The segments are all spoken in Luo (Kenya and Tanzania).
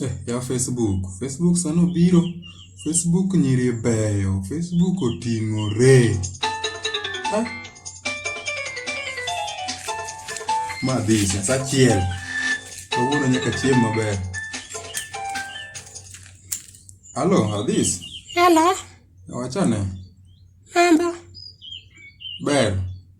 Eh, ya Facebook. Facebook sani obiro. Facebook nyiri beyo. Facebook oting'ore. Ah. Ma dhi sa chiel. Kawuono nyaka chiem maber. Halo, Adhis. Halo. Wachane. Mambo. Ber.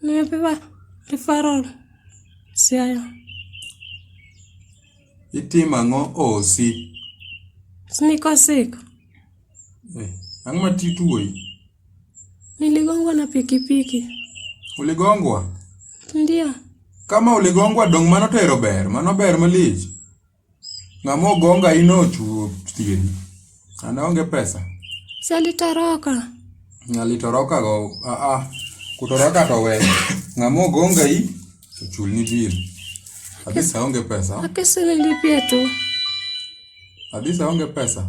Nimepewa referral Siaya. Itimo ang'o osi? Niko sick. Eh, ang'o ma tituoyi? Niligongwa na pikipiki. Uligongwa? Ndio. Kama uligongwa dong' mano to ero ber, mano ber malich. Ng'ama ogo ngai no ochuo tieni. An aonge pesa. Salitoroka. Salitoroka go a a kutoroka to we. Ng'ama ogo ngai ochulni bill. Adisa aonge pesa. Akesele lipia tu. Adisa aonge pesa.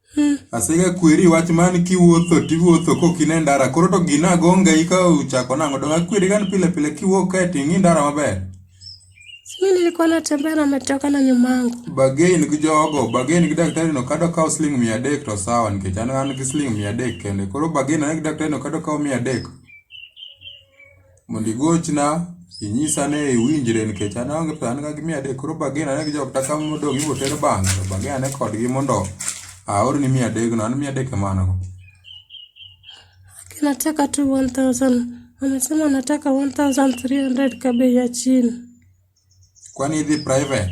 Asega kweri wach man kiwuotho tiwuotho kok in e ndara koro to gina agonga ika uchako nang'o donge akweri gan pile pile kiwuok kae to ing'i ndara maber Mi nilikuwa natembea na ametoka na nyumangu. bagain gi jogo bagain gi daktari no kado kawo siling mia adek to sawa nikech an an gi siling mia adek kende koro bagain ane gi daktari no kado kawo mia adek mondo igochna inyisa ni iwinjre nikech an aonge pesa an ga gi mia adek koro bagen ane gi jok taka modong' ibiro ter bang'e to bagen ane kodgi mondo aorni mia adekno an mia adek ema an go Nataka tu 1000. Amesema nataka 1300 kwa bei ya chini. kwani idhi private